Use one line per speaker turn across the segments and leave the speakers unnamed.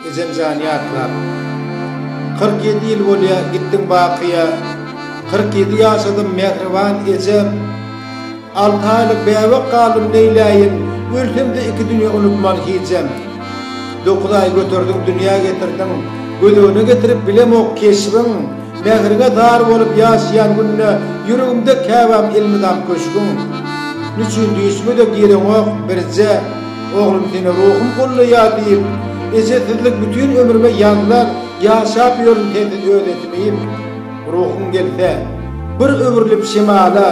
Ejem jan ýatlap. Kyrk ýedi ýyl bolýa gitdiň bakyýa. Kyrk ýedi ýaşadym mähriban ejem. Alty aýlyk bäbek galdym neýläýin, ölsemde iki dünýe unutman hijem. Dokuz aý göterdiň dünýä getirdiň, gözegine getirip bilemok keşbiň. Mähriňe zar bolup ýaşaýan günde, ýüregimde käbäm elmydam köşgüň. Niçin düýşüme-de gireňok birje. Oglum seni ruhum gollaýar diýip, Eje sizlik bütin ömrüme ýazlar Ýaşap ýörün sensiz öz etimim. Ruhum gelse, bir öwrülip şemala,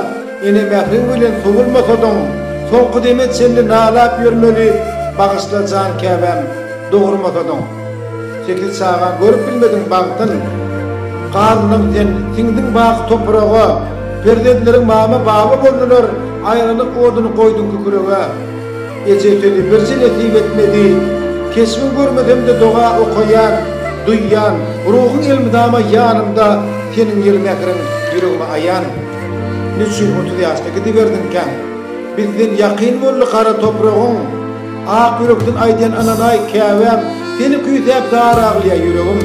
Ene mähriň bilen sowulmasadyň, Soňky deme çenli nalap ýörmeli, Bagyşla jan käbäm, dogurmasadyň. Sekiz çaga görüp bilmediň bagtyn, Garyndan sen siňdiň wah topraga, Perzentleriň mama-baba boldular, Aýralyk oduny goýduň kükrege. Eje sözi birje nesip etmedi. Keşbiň görmesem-de doga okaýan, duýýan, Ruhuň elmydama ýanymda, Seniň ýyly mähriň ýüregime aýan. Niçin otuz ýaşda gidiberdiňkäň? Bizden ýakyn boldy gara topragyň. Ak ýürekden aýdýan ynanaý käbäm, Seni küýsäp zar aglýa ýüregim.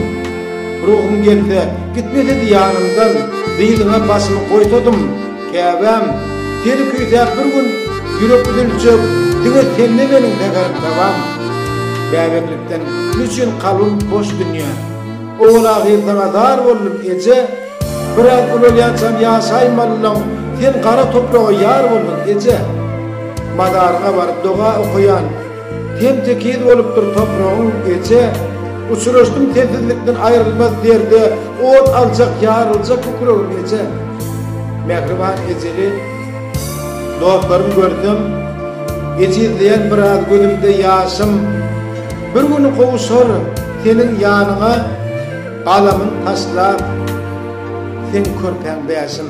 Ruhum gelse, gitmesedi ýanymdan, Dyzyňa başymy goýsadym. Käbäm, seni küýsäp bir gün ýürek üzüljek, diňe sende meniň zeher dawam. Bäbeklikden gün üçin kalbym boş dünýä. Owal-ahyr saňa zar boldum, eje. Biraz ulalýançam ýaşaýmalylaň, sen gara topraga ýar boldun, eje. Mazaryňa baryp doga okaýan. Ten tekiz bolupdyr topragyň eje, Uçraşdym sensizlikden aýrylmaz derde, Ot aljak, ýaryljak kükregim eje. Mähriban ejeli dostlarym görsem, Ejizleýän biraz gözümde ýaşym, Bir gün gowuşar seniň ýanyňa, Galamyn taşlap, seň körpäň bäşim.